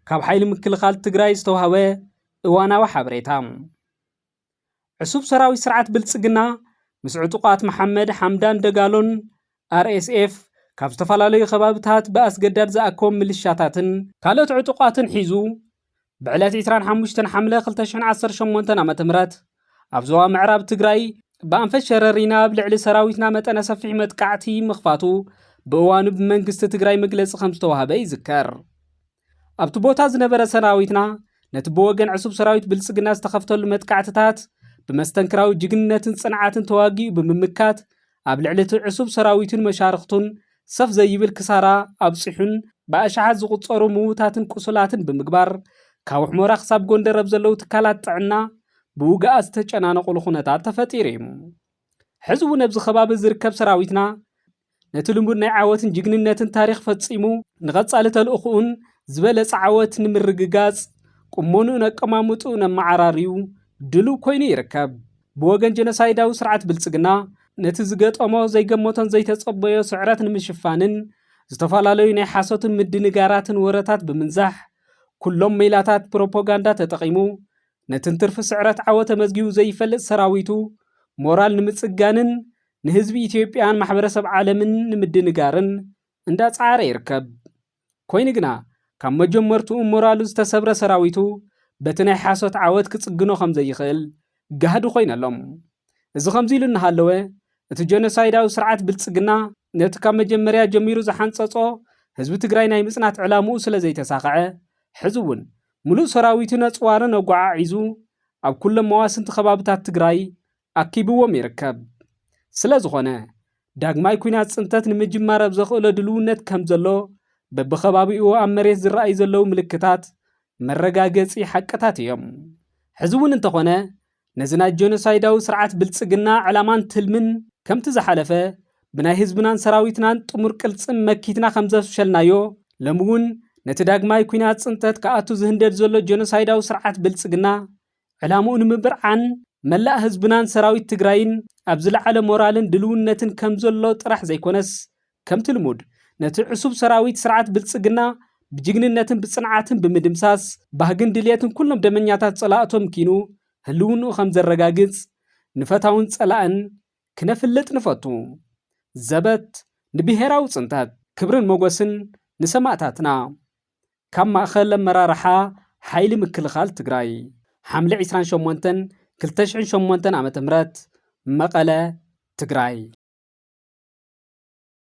ካብ ሓይሊ ምክልኻል ትግራይ ዝተውሃበ እዋናዊ ሓበሬታ ዕሱብ ሰራዊት ስርዓት ብልፅግና ምስ ዕጡቓት መሓመድ ሓምዳን ደጋሎን RSF ካብ ዝተፈላለዩ ከባብታት ብኣስገዳድ ዝኣከቦም ምልሻታትን ካልኦት ዕጡቓትን ሒዙ ብዕለት 25 ሓምለ 2018 ዓ.ም ኣብ ዞባ ምዕራብ ትግራይ ብኣንፈት ሸረሪና ኣብ ልዕሊ ሰራዊትና መጠነ ሰፊሕ መጥቃዕቲ ምኽፋቱ ብእዋኑ ብመንግስቲ ትግራይ መግለፂ ከም ዝተዋህበ ይዝከር። ኣብቲ ቦታ ዝነበረ ሰራዊትና ነቲ ብወገን ዕሱብ ሰራዊት ብልጽግና ዝተኸፍተሉ መጥቃዕትታት ብመስተንክራዊ ጅግንነትን ጽንዓትን ተዋጊኡ ብምምካት ኣብ ልዕሊ እቲ ዕሱብ ሰራዊቱን መሻርኽቱን ሰፍ ዘይብል ክሳራ ኣብጺሑን ብኣሽሓት ዝቑጸሩ ምዉታትን ቁሱላትን ብምግባር ካብ ሑመራ ክሳብ ጎንደር ኣብ ዘለዉ ትካላት ጥዕና ብውግኣት ዝተጨናነቑሉ ኩነታት ተፈጢሩ እዩ። ሕዚ እውን ኣብዚ ከባቢ ዝርከብ ሰራዊትና ነቲ ልሙድ ናይ ዓወትን ጅግንነትን ታሪኽ ፈጺሙ ንቐጻሊ ተልእኹኡን ዝበለጸ ዓወት ንምርግጋጽ ቁመንኡን ኣቀማምጥኡን ኣመዓራርዩ ድሉው ኮይኑ ይርከብ። ብወገን ጀኖሳይዳዊ ስርዓት ብልጽግና ነቲ ዝገጠሞ ዘይገመቶን ዘይተጸበዮ ስዕረት ንምሽፋንን ዝተፈላለዩ ናይ ሓሶትን ምድንጋራትን ወረታት ብምንዛሕ ኩሎም ሜላታት ፕሮፖጋንዳ ተጠቒሙ ነቲ እንትርፊ ስዕረት ዓወት ተመዝጊቡ ዘይፈልጥ ሰራዊቱ ሞራል ንምጽጋንን ንህዝቢ ኢትዮጵያን ማሕበረሰብ ዓለምን ንምድንጋርን እንዳጸዓረ ይርከብ። ኮይኑ ግና ካብ መጀመርትኡ ሞራሉ ዝተሰብረ ሰራዊቱ በቲ ናይ ሓሶት ዓወት ክጽግኖ ከም ዘይኽእል ጋህዲ ኮይኑ ኣሎ። እዚ ከምዚ ኢሉ እናሃለወ እቲ ጀኖሳይዳዊ ስርዓት ብልጽግና ነቲ ካብ መጀመርያ ጀሚሩ ዝሓንጸጾ ህዝቢ ትግራይ ናይ ምጽናት ዕላምኡ ስለ ዘይተሳኸዐ ሕዚ እውን ምሉእ ሰራዊቱ ነጽዋርን ኣጓዓዒዙ ኣብ ኩሎም መዋስንቲ ከባብታት ትግራይ ኣኪብዎም ይርከብ። ስለዝኾነ፣ ዳግማይ ኲናት ፅንተት ንምጅማር ኣብ ዘኽእሎ ድልውነት ከምዘሎ በብኸባቢኡ ኣብ መሬት ዝረኣዩ ዘለዉ ምልክታት መረጋገፂ ሓቅታት እዮም። ሕዚ እውን እንተኾነ ነዚ ናይ ጀኖሳይዳዊ ስርዓት ብልፅግና ዕላማን ትልምን ከምቲ ዝሓለፈ ብናይ ህዝብናን ሰራዊትናን ጥሙር ቅልፅም መኪትና ከምዘፍሸልናዮ ሎሚ እውን ነቲ ዳግማይ ኲናት ፅንተት ክኣቱ ዝህንደድ ዘሎ ጀኖሳይዳዊ ስርዓት ብልፅግና ዕላምኡ ንምብርዓን መላእ ህዝብናን ሰራዊት ትግራይን ኣብ ዝለዓለ ሞራልን ድልውነትን ከምዘሎ ጥራሕ ዘይኮነስ ከምቲ ልሙድ ነቲ ዕሱብ ሰራዊት ስርዓት ብልፅግና ብጅግንነትን ብፅንዓትን ብምድምሳስ ባህግን ድልየትን ኩሎም ደመኛታት ፀላእቶም ኪኑ ህልውንኡ ከምዘረጋግፅ ንፈታውን ፀላእን ክነፍልጥ ንፈቱ። ዘበት ንብሄራዊ ፅንተት! ክብርን ሞጎስን ንሰማእታትና! ካብ ማእኸል ኣመራርሓ ሓይሊ ምክልኻል ትግራይ ሓምለ ዕስራን ሸሞንተን ክልተ ሽሕን ሸሞንተን ዓ.ም መቐለ፣ ትግራይ።